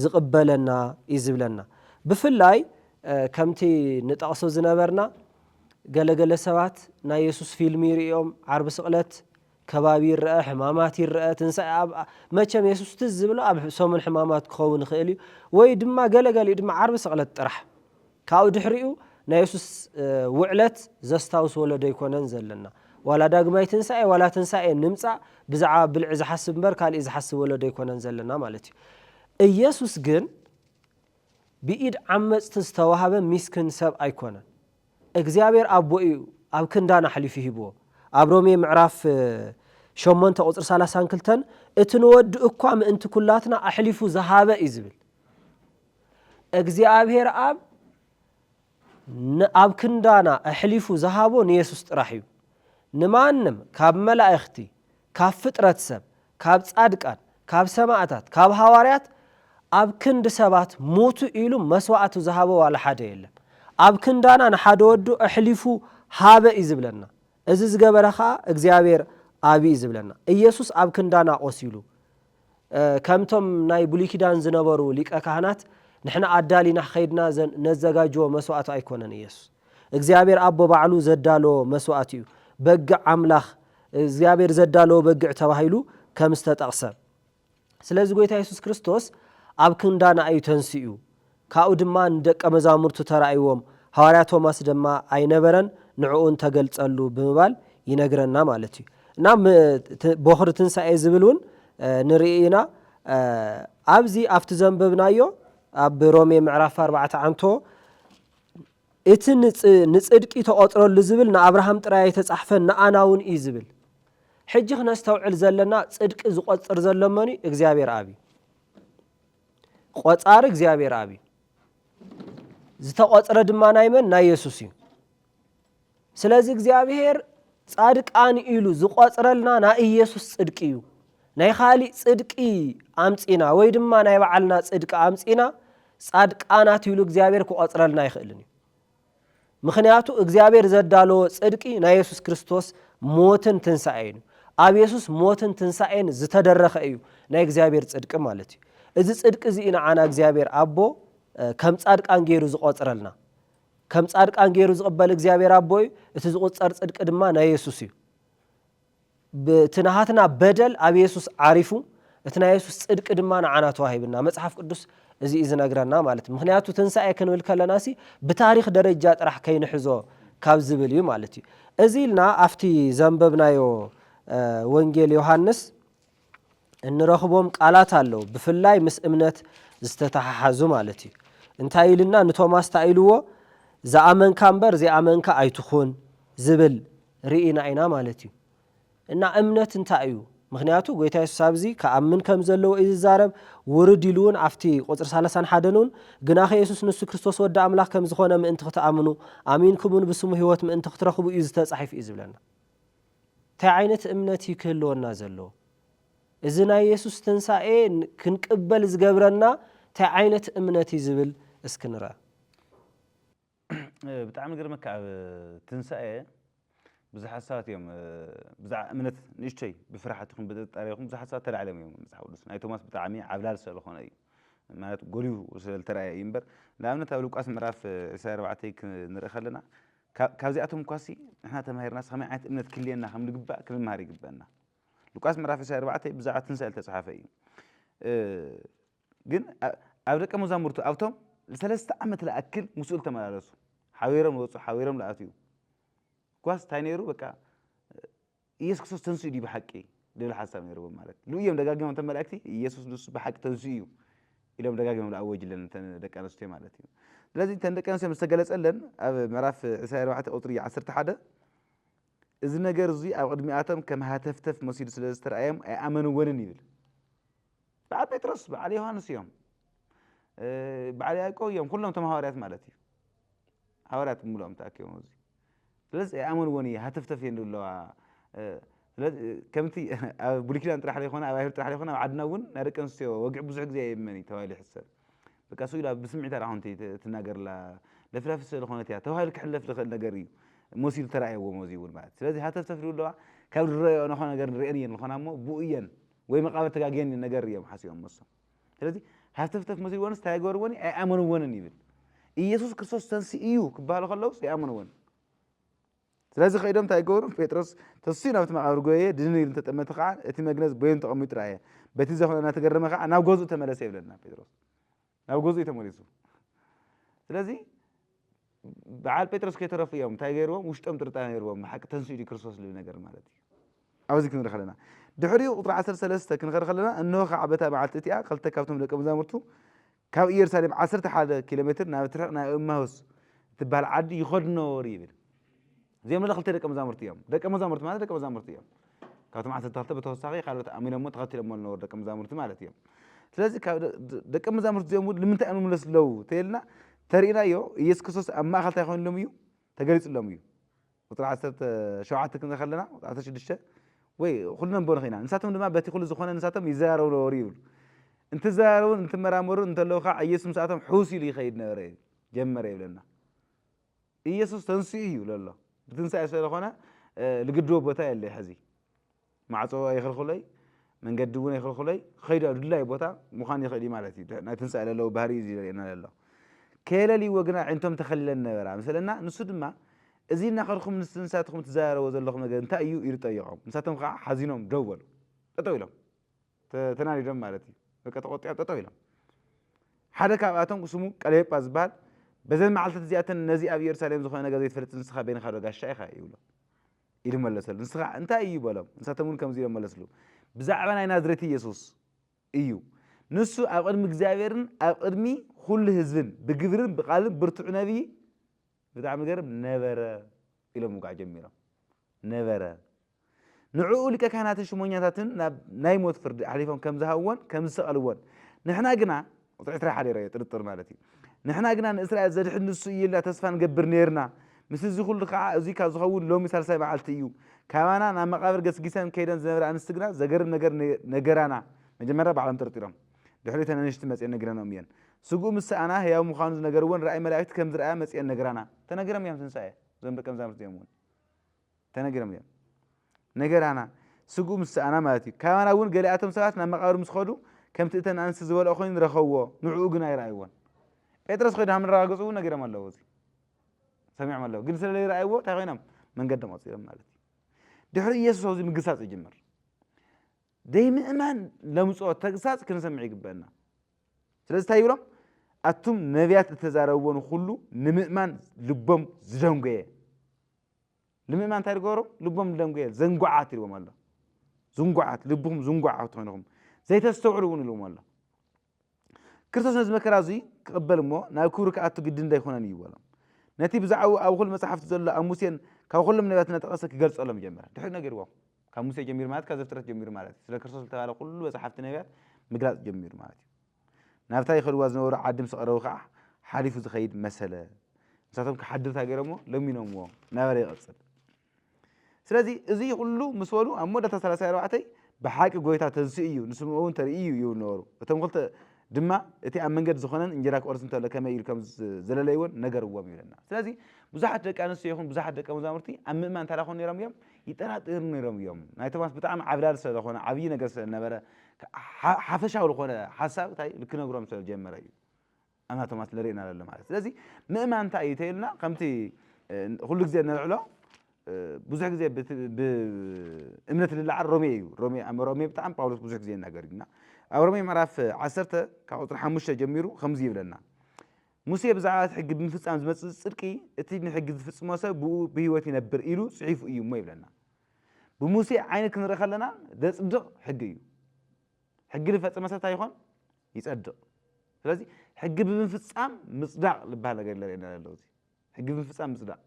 ዝቕበለና እዩ ዝብለና። ብፍላይ ከምቲ ንጠቕሶ ዝነበርና ገለ ገለ ሰባት ናይ የሱስ ፊልሚ ርእዮም ዓርቢ ስቕለት ከባቢ ይረኣ ሕማማት ይረኣ ትንሳኤ ኣብ መቸም የሱስ ትዝ ዝብሎ ኣብ ሰሙን ሕማማት ክኸውን ይኽእል እዩ ወይ ድማ ገለ ገሊኡ ድማ ዓርቢ ስቕለት ጥራሕ ካብኡ ድሕሪኡ ናይ የሱስ ውዕለት ዘስታውስ ወለዶ ኣይኮነን ዘለና ዋላ ዳግማይ ትንሳኤ ዋላ ትንሳኤ ንምጻእ ብዛዕባ ብልዒ ዝሓስብ እምበር ካልእ ዝሓስብ ወለዶ ኣይኮነን ዘለና ማለት እዩ እየሱስ ግን ብኢድ ዓመጽቲ ዝተዋህበ ሚስክን ሰብ ኣይኮነን እግዚኣብሔር ኣቦ እዩ ኣብ ክንዳን ኣሕሊፉ ሂብዎ ኣብ ሮሜ ምዕራፍ ሸሞንተ ቁፅሪ ሰላሳን ክልተን እቲ ንወዱ እኳ ምእንቲ ኩላትና ኣሕሊፉ ዝሃበ እዩ ዝብል እግዚኣብሔር ኣብ ኣብ ክንዳና ኣሕሊፉ ዝሃቦ ንየሱስ ጥራሕ እዩ ንማንም ካብ መላእኽቲ ካብ ፍጥረት ሰብ ካብ ጻድቃን፣ ካብ ሰማእታት፣ ካብ ሃዋርያት ኣብ ክንዲ ሰባት ሙቱ ኢሉ መስዋዕቱ ዝሃበ ዋላ ሓደ የለን። ኣብ ክንዳና ንሓደ ወዱ ኣሕሊፉ ሃበ እዩ ዝብለና። እዚ ዝገበረ ከኣ እግዚኣብሔር ኣብ እዩ ዝብለና። ኢየሱስ ኣብ ክንዳና ቆሲሉ ከምቶም ናይ ብሉይ ኪዳን ዝነበሩ ሊቀ ካህናት ንሕና ኣዳሊና ከይድና ነዘጋጅዎ መስዋዕቱ ኣይኮነን ኢየሱስ። እግዚኣብሔር ኣቦ ባዕሉ ዘዳለዎ መስዋእቲ እዩ። በግዕ ኣምላኽ እግዚኣብሔር ዘዳለዎ በግዕ ተባሂሉ ከም ዝተጠቕሰ። ስለዚ ጎይታ የሱስ ክርስቶስ ኣብ ክንዳና እዩ ተንሲኡ። ካብኡ ድማ ንደቀ መዛሙርቱ ተራእይዎም፣ ሃዋርያ ቶማስ ድማ ኣይነበረን ንዕኡን ተገልጸሉ ብምባል ይነግረና ማለት እዩ። እና ቦኽሪ ትንሳኤ ዝብል እውን ንርኢ ኢና። ኣብዚ ኣብቲ ዘንበብናዮ ኣብ ሮሜ ምዕራፍ ኣርባዕተ ዓንቶ እቲ ንጽድቂ ተቖጽረሉ ዝብል ንኣብርሃም ጥራይ ኣይተጻሕፈን ንኣናውን እዩ ዝብል። ሕጂ ክነስተውዕል ዘለና ጽድቂ ዝቆጽር ዘሎ መን እዩ? እግዚኣብሔር ኣብ እዩ። ቆጻሪ እግዚኣብሔር ኣብ እዩ። ዝተቆጽረ ድማ ናይ መን ናይ የሱስ እዩ። ስለዚ እግዚኣብሔር ጻድቃን ኢሉ ዝቆጽረልና ናይ ኢየሱስ ጽድቂ እዩ ናይ ኻሊእ ጽድቂ ኣምጺና ወይ ድማ ናይ ባዓልና ጽድቂ ኣምጺና ጻድቃናት ኢሉ እግዚኣብሔር ክቆጽረልና ኣይኽእልን እዩ ምኽንያቱ እግዚኣብሔር ዘዳለዎ ጽድቂ ናይ የሱስ ክርስቶስ ሞትን ትንሳኤን እዩ ኣብ የሱስ ሞትን ትንሳኤን ዝተደረኸ እዩ ናይ እግዚኣብሔር ጽድቂ ማለት እዩ እዚ ጽድቂ እዚ ንዓና እግዚኣብሔር ኣቦ ከም ጻድቃን ገይሩ ዝቆጽረልና ከም ጻድቃን ገይሩ ዝቕበል እግዚኣብሔር ኣቦ እዩ፣ እቲ ዝቑጸር ጽድቂ ድማ ናይ የሱስ እዩ። እቲ ናሃትና በደል ኣብ የሱስ ዓሪፉ፣ እቲ ናይ የሱስ ጽድቂ ድማ ንዓና ተዋሂብና። መጽሓፍ ቅዱስ እዚ እዩ ዝነግረና ማለት ምኽንያቱ ትንሳኤ ክንብል ከለናሲ ብታሪኽ ደረጃ ጥራሕ ከይንሕዞ ካብ ዝብል እዩ ማለት እዩ። እዚ ኢልና ኣብቲ ዘንበብናዮ ወንጌል ዮሃንስ እንረኽቦም ቃላት ኣለዉ ብፍላይ ምስ እምነት ዝተተሓሓዙ ማለት እዩ እንታይ ኢልና ንቶማስ ታይ ኢልዎ ዝኣመንካ እምበር ዘይኣመንካ ኣይትኹን ዝብል ርኢና ኢና ማለት እዩ እና እምነት እንታይ እዩ ምክንያቱ ጎይታ የሱስ ኣብዚ ክኣምን ከም ዘለዎ እዩ ዝዛረብ ውርድ ኢሉ እውን ኣብቲ ቁፅሪ ሳላሳን ሓደን እውን ግናኸ የሱስ ንሱ ክርስቶስ ወዲ ኣምላኽ ከም ዝኾነ ምእንቲ ክትኣምኑ ኣሚንኩም እውን ብስሙ ህይወት ምእንቲ ክትረኽቡ እዩ ዝተፃሒፍ እዩ ዝብለና እንታይ ዓይነት እምነት እዩ ክህልወና ዘለዎ? እዚ ናይ የሱስ ትንሳኤ ክንቅበል ዝገብረና እንታይ ዓይነት እምነት እዩ ዝብል እስኪ ንርኣ። ብጣዕሚ ይገርመካ ኣብ ትንሳኤ ብዙሓት ሰባት እዮም ብዛዕባ እምነት ንእሽቶይ ብፍርሓት ይኹን ብጥርጣሬ ይኹን ብዙሓት ሰባት ተላዕሎም እዮም መጽሓፍ ቅዱስ ናይ ቶማስ ብጣዕሚ ዓብላል ስለ ዝኾነ እዩ ማለት ጎልሁ ስለ ዝተራእየ እዩ እምበር ንኣብነት ኣብ ሉቃስ ምዕራፍ 24 ክንርኢ ከለና ካብዚኣቶም እኳሲ ንሕና ተማሂርናስ ኸመይ ዓይነት እምነት ክህልየና ከም ልግባእ ክንምሃር ይግበእና። ሉቃስ ምዕራፍ ዕስራን ኣርባዕተን ብዛዕባ ትንሣኤ ልተጽሓፈ እዩ። ግን ኣብ ደቀ መዛሙርቱ ኣብቶም ንሰለስተ ዓመት ልኣክል ምስኡ ልተመላለሱ ሓቢሮም ልወጹ ሓቢሮም ልኣትዩ እኳስ እንታይ ነይሩ በቃ ኢየሱስ ክርስቶስ ተንሲኡ ድዩ ብሓቂ ድብል ሓሳብ ነይርዎም ማለት ሉ እዮም ደጋጊሞም እቶም መላእክቲ ኢየሱስ ንሱ ብሓቂ ተንሲኡ እዩ ኢሎም ደጋጊሞም ዝኣወጅለን እተን ደቂ ኣንስትዮ ማለት እዩ ስለዚ እተን ደቂ ኣንስትዮ ምስ ተገለጸለን ኣብ ምዕራፍ 24 ቁጽሪ 11 እዚ ነገር እዚ ኣብ ቅድሚኣቶም ከም ሃተፍተፍ መሲሉ ስለ ዝተረኣዮም ኣይኣመንዎንን ይብል በዓል ጴጥሮስ በዓል ዮሃንስ እዮም በዓል ያዕቆብ እዮም ኩሎም ቶም ሃዋርያት ማለት እዩ ሃዋርያት ብምልኦም ተኣኪቦም እዚ ስለዚ ኣይኣመንዎን እዩ ሃተፍተፍ እየን ኣለዋ ስለዚ ከምቲ ኣብ ብሉይ ኪዳን ጥራሕ ዘይኮነ ኣብ ኣይሁድ ጥራሕ ዘይኮነ ኣብ ዓድና እውን ናይ ደቂ ኣንስትዮ ወግዒ ብዙሕ ግዜ የመን እዩ ተባሂሉ ይሕሰብ በቃ ስኡ ኢላ ብስምዒታ ዳኣ ኮንቲ ትናገርላ ለፍላፊ ስለ ዝኾነት እያ ተባሂሉ ክሕለፍ ዝኽእል ነገር እዩ መሲሉ ተራእየዎም እዚ እውን ማለት ስለዚ ሃተፍተፍ ኣለዋ ካብ ዝረኣዮ ንኾ ነገር ንሪአን እየን ዝኾና እሞ ብኡ እየን ወይ መቓብር ተጋግየን እዩ ነገር እዮም ሓሲቦም መሶም ስለዚ ሃተፍተፍ መስልዎንስ እንታይ ገበርዎን እዩ ኣይኣመንዎንን ይብል ኢየሱስ ክርስቶስ ተንሲ እዩ ክበሃሉ ከለውስ ኣይኣመንዎን ስለዚ ከይዶም እንታይ ገበሩ ጴጥሮስ ተስኡ ናብቲ መቓብር ጎየየ ድንን ኢሉ እንተጠመተ ከዓ እቲ መግነዝ በይኑ ተቐሚጡ ረኣየ በቲ ዘኾነ እናተገረመ ከዓ ናብ ገዝኡ ተመለሰ ይብለና ጴጥሮስ ናብ ገዝኡ እዩ ተመሊሱ ስለዚ በዓል ጴጥሮስ ከይተረፉ እዮም እንታይ ገይርዎም ውሽጦም ጥርጣሬ ነይርዎም ብሓቂ ተንሲኡ ድዩ ክርስቶስ ዝብል ነገር ማለት እዩ ኣብዚ ክንርኢ ከለና ድሕሪኡ ቁፅሪ ዓሰርተ ሰለስተ ክንኸድ ከለና እንሆ ከዓ በታ መዓልቲ እቲኣ ክልተ ካብቶም ደቂ መዛሙርቱ ካብ ኢየሩሳሌም ዓሰርተ ሓደ ኪሎ ሜትር ናብ ትርሕቕ ናብ እማሁስ እትበሃል ዓዲ ይኸዱ ነበሩ ይብል እዚኦም ለ ክልተ ደቀ መዛሙርቲ እዮም። ደቀ መዛሙርቲ ማለት ደቀ መዛሙርቲ እዮም። ካብቶም ዓሰርተ ክልተ ብተወሳኺ ካልኦት ኣሚኖሞ ተኸቲሎሞ ዝነበሩ ደቀ መዛሙርቲ ማለት እዮም። ስለዚ ደቀ መዛሙርቲ እዚኦም እውን ንምንታይ እዮም ዝምለሱ ኣለዉ ተልና ተርእናዮ ኢየሱስ ክርስቶስ ኣብ ማእኸል እንታይ ኮይኑሎም እዩ ተገሊጹሎም እዩ ቁፅሪ ዓሰርተ ሸውዓተ ክንርኢ ከለና ዓሰርተ ሽዱሽተ ወይ ኩሉ ነንበሩ ኺና ንሳቶም ድማ በቲ ኩሉ ዝኾነ ንሳቶም ይዘራረቡ ነበሩ ይብል እንትዘራረቡን እንትመራመሩን እንተለዉ ከዓ ኢየሱስ ምስኣቶም ሕውስ ኢሉ ይኸይድ ነበረ ጀመረ ይብለና ኢየሱስ ተንሲኡ እዩ ለሎ ብትንሳኤ ስለለኾነ ልግድቦ ቦታ የለይ ሕዚ ማዕጾ ኣይኽልኹለይ መንገዲ እውን ኣይኽልኹለይ ክኸይዱ ኣብ ድላይ ቦታ ምዃን ይኽእል እዩ ማለት እዩ ናይ ትንሳኤ ለለዎ ባህሪ እዩ ዝርእየና ለሎ ከየለልይዎ ግና ኣዒንቶም ተኸሊለን ነበራ ምስለና ንሱ ድማ እዚ እናኸድኩም ንስንሳትኩም ትዘራረቦ ዘለኹም ነገር እንታይ እዩ ኢሉ ጠየቖም ንሳቶም ከዓ ሓዚኖም ደው በሉ ጠጠው ኢሎም ተናዲዶም ማለት እዩ በቃ ተቆጢዖም ጠጠው ኢሎም ሓደ ካብኣቶም ስሙ ቀሌጳ ዝበሃል በዘን መዓልትታት እዚኣተን ነዚ ኣብ ኢየሩሳሌም ዝኾነ ነገር ዘይትፈልጥ ንስኻ በይንኻ ዶ ጋሻ ኢኻ ይብሎ ኢሉ መለሰሉ ንስኻ እንታይ እዩ በሎም ንሳቶም እውን ከምዚ ኢሎም መለስሉ ብዛዕባ ናይ ናዝሬት ኢየሱስ እዩ ንሱ ኣብ ቅድሚ እግዚኣብሔርን ኣብ ቅድሚ ኩሉ ህዝብን ብግብርን ብቃልን ብርቱዕ ነብዪ ብጣዕሚ ገርም ነበረ ኢሎም ምጉዓ ጀሚሮም ነበረ ንዕኡ ሊቀ ካህናትን ሽሞኛታትን ናብ ናይ ሞት ፍርዲ ኣሕሊፎም ከም ዝሃብዎን ከም ዝሰቐልዎን፣ ንሕና ግና፣ ቁጽሪ ዕስራ ሓዲረ እየ፣ ጥርጥር ማለት እዩ፣ ንሕና ግና ንእስራኤል ዘድሕን ንሱ እዩ ኢልና ተስፋ ንገብር ኔርና፣ ምስ እዚ ኹሉ ኸኣ እዙይ ካብ ዝኸውን ሎሚ ሳልሳይ መዓልቲ እዩ፣ ካባና ናብ መቓብር ገስጊሰን ከይደን ዝነበራ ኣንስቲ ግና ዘገርም ነገር ነገራና፣ መጀመርያ ባዕሎም ጠርጢሮም ድሕሪኡ እተን ኣንሽቲ መጺኤን ነጊረንኦም እየን፣ ስግኡ ምስ ሰኣና ሕያው ምዃኑ ዝነገርወን ራእይ መላእክቲ ከም ዝረኣያ መጺኤን ነግራና። ተነጊሮም እዮም ትንሳኤ እዞም ደቀ መዛሙርቲ እዚኦም እውን። ተነጊሮም እዮም ነገራና ስግኡ ምስ ሰኣና ማለት እዩ። ካባና እውን ገሊኣቶም ሰባት ናብ መቓብር ምስ ኸዱ ከምቲ እተን ኣንስቲ ዝበልኦ ኮይኑ ረኸብዎ፣ ንዕኡ ግን ኣይረኣይዎን። ጴጥሮስ ኸይዱ ሃም ንረጋገጹ እውን ነጊሮም ኣለዉ እዚ ሰሚዖም ኣለዉ ግን ስለ ዘይረኣይዎ እንታይ ኮይኖም መንገዶም ቐጺሎም ማለት እዩ። ድሕሪ ኢየሱስ ኣብዚ ምግሳጽ ይጅምር። ዘይምእማን ለምጾ ተግሳጽ ክንሰምዕ ይግበአና። ስለዚ እንታይ ይብሎም ኣቱም ነቢያት እተዛረብዎ ንኹሉ ንምእማን ልቦም ዝደንጎየ ንምእማን እንታይ ድገበሩ ልቦም ደንጉየ ዘንጉዓት ኢልዎም ኣሎ ዝንጉዓት ልብኹም ዝንጉዓት ኮይንኹም ዘይተስተውዕሉ እውን ኢልዎም ኣሎ ክርስቶስ ነዚ መከራ እዙይ ክቕበል እሞ ናብ ክብሪ ክኣቱ ግድን ዶ ኣይኮነን እዩ በሎም ነቲ ብዛዕባኡ ኣብ ኩሉ መጽሓፍቲ ዘሎ ኣብ ሙሴን ካብ ኩሎም ነቢያት እናጠቐሰ ክገልጸሎም ጀመረ ድሕሪ ነገርዎም ካብ ሙሴ ጀሚሩ ማለት ካብ ዘፍጥረት ጀሚሩ ማለት እዩ ስለ ክርስቶስ ዝተባሃለ ኩሉ መጽሓፍቲ ነቢያት ምግላጽ ጀሚሩ ማለት እዩ ናብታ ይኸድዋ ዝነበሩ ዓዲ ምስ ቐረቡ ከኣ ሓሊፉ ዝኸይድ መሰለ። ንሳቶም ክሓድር እንታይ ገይሮምዎ? ለሚኖምዎ። ነበረ ይቕጽል። ስለዚ እዚ ኩሉ ምስ በሉ ኣብ መወዳእታ ሰላሳይ ኣርባዕተይ ብሓቂ ጐይታ ተንሲኡ እዩ፣ ንስምኦውን ተርእዩ እዩ ይብሉ ነበሩ። እቶም ክልተ ድማ እቲ ኣብ መንገዲ ዝዀነን እንጀራ ክቖርስ እንተሎ ከመይ ኢሉ ከም ዘለለይዎን ነገርዎም ይብለና። ስለዚ ብዙሓት ደቂ ኣንስትዮ ይኹን ብዙሓት ደቀ መዛሙርቲ ኣብ ምእማን እንታይ ደኾኑ ነይሮም እዮም? ይጠራጠሩ ነይሮም እዮም። ናይ ቶማስ ብጣዕሚ ዓብላሊ ስለ ዝኾነ፣ ዓብዪ ነገር ስለ ዝነበረ፣ ሓፈሻዊ ዝኾነ ሓሳብ ታይ ክነግሮም ስለ ጀመረ እዩ ኣና ቶማስ ንርእና ለለ ማለት ስለዚ ምእማን እንታይ እዩ ተይልና ከምቲ ኩሉ ግዜ ነልዕሎ ብዙሕ ግዜ ብእምነት ልለዓል ሮሜ እዩ ሮሜ ሮሜ ብጣዕሚ ጳውሎስ ብዙሕ ግዜ ይናገር እዩና ኣብ ሮሜ ምዕራፍ ዓሰርተ ካብ ቁፅሪ ሓሙሽተ ጀሚሩ ከምዚ ይብለና ሙሴ ብዛዕባ እቲ ሕጊ ብምፍፃም ዝመፅእ ፅድቂ እቲ ንሕጊ ዝፍፅሞ ሰብ ብኡ ብህይወት ይነብር ኢሉ ፅሒፉ እዩ እሞ ይብለና ብሙሴ ዓይኒ ክንርኢ ከለና ዘጽድቕ ሕጊ እዩ። ሕጊ ዝፈጸመ ሰብ እንታይ ይኾን? ይጸድቕ። ስለዚ ሕጊ ብምፍጻም ምጽዳቕ ዝበሃል ነገር የለን የና ዘሎ እዚ ሕጊ ብምፍጻም ምጽዳቕ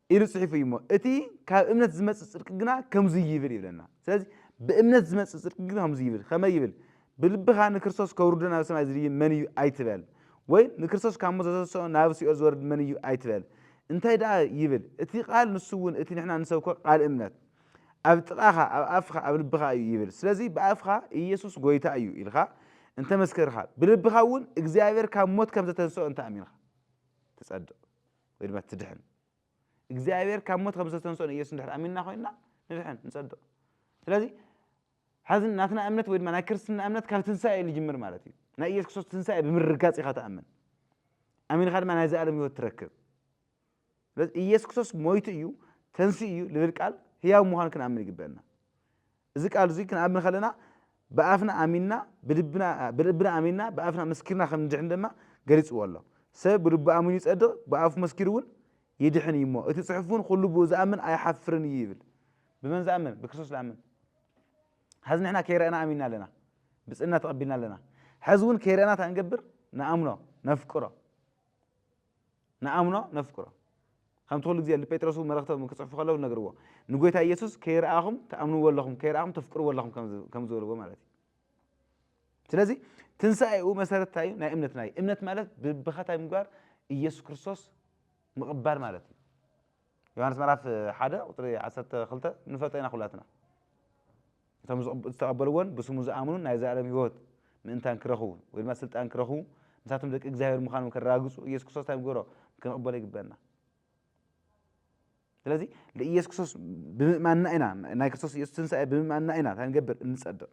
ኢሉ ጽሒፉ እዩ እሞ እቲ ካብ እምነት ዝመጽእ ጽድቂ ግና ከምዚ ይብል ይብለና። ስለዚ ብእምነት ዝመጽእ ጽድቂ ግና ከምዚ ይብል ከመይ ይብል ብልብኻ ንክርስቶስ ከውርዶ ናብ ሰማይ ዝድይብ መን እዩ ኣይትበል፣ ወይ ንክርስቶስ ካብ ሞት ዘተሰኦ ናብ ሲኦል ዝወርድ መን እዩ ኣይትበል፣ እንታይ ደኣ ይብል እቲ ቃል ንሱ እውን እቲ ንሕና እንሰብኮ ቃል እምነት ኣብ ጥቓኻ ኣብ ኣፍካ ኣብ ልብኻ እዩ ይብል ስለዚ ብኣፍካ ኢየሱስ ጎይታ እዩ ኢልካ እንተመስከርካ ብልብኻ እውን እግዚኣብሔር ካብ ሞት ከም ዘተንሰኦ እንተኣሚንካ ትጸድቕ ወይ ድማ ትድሕን እግዚኣብሔር ካብ ሞት ከም ዘተንሰኦ ኢየሱስ እንድሕር ኣሚንና ኮይንና ንድሕን ንጸድቕ ስለዚ ሐዚ ናትና እምነት ወይ ድማ ናይ ክርስትና እምነት ካብ ትንሳኤ እዩ ዝጅምር ማለት እዩ። ናይ ኢየሱስ ክርስቶስ ትንሳኤ ብምርግጋፅ ኢኻ ትኣምን። ኣሚንኻ ድማ ናይ ዘኣለም ህይወት ትረክብ። ስለዚ ኢየሱስ ክርስቶስ ሞይቱ እዩ ተንስኡ እዩ ልብል ቃል ህያው ምዃኑ ክንኣምን ይግበአና። እዚ ቃል እዙይ ክንኣምን ከለና ብኣፍና ኣሚንና ብልብና ኣሚንና ብኣፍና መስኪርና ከም ንድሕን ድማ ገሊፅዎ ኣሎ። ሰብ ብልቡ ኣሚኑ ይፀድቕ ብኣፉ መስኪሩ እውን ይድሕን እዩ እሞ፣ እቲ ጽሑፍ እውን ዅሉ ብእኡ ዝኣምን ኣይሓፍርን እዩ ይብል። ብመን ዝኣምን? ብክርስቶስ ዝኣምን። ሐዚ ንሕና ከይረኣና ኣሚንና ኣለና፣ ብፅእና ተቐቢልና ኣለና። ሐዚ እውን ከይረኣና እንታይ ንገብር? ንኣምኖ፣ ነፍቅሮ። ንኣምኖ፣ ነፍቅሮ። ከምቲ ኩሉ ግዜ ንጴጥሮስ እውን መልእኽቶም ክጽሕፉ ከለዉ ዝነገርዎ ንጐይታ ኢየሱስ ከይረኣኹም ትኣምንዎ ኣለኹም፣ ከይረኣኹም ተፍቅርዎ ኣለኹም ከም ዝበልዎ ማለት እዩ። ስለዚ ትንሳኤኡ መሰረት እንታይ እዩ? ናይ እምነትና እዩ። እምነት ማለት ብብኸታይ ምግባር ኢየሱስ ክርስቶስ ምቕባል ማለት እዩ። ዮሃንስ ምዕራፍ ሓደ ቁፅሪ ዓሰርተ ክልተ ንፈልጦ ኢና ኩላትና እቶም ዝተቐበልዎን ብስሙ ዝኣምኑን ናይ ዘላለም ህይወት ምእንታን ክረኽቡ ወይ ድማ ስልጣን ክረኽቡ ንሳቶም ደቂ እግዚኣብሔር ምዃኖም ከረጋግፁ ኢየሱስ ክርስቶስ እንታይ ምግበሮ ክንቕበሎ ይግበና ስለዚ ልኢየሱስ ክርስቶስ ብምእማንና ኢና ናይ ክርስቶስ ኢየሱስ ትንሳኤ ብምእማንና ኢና እንታይ ንገብር እንጸድቕ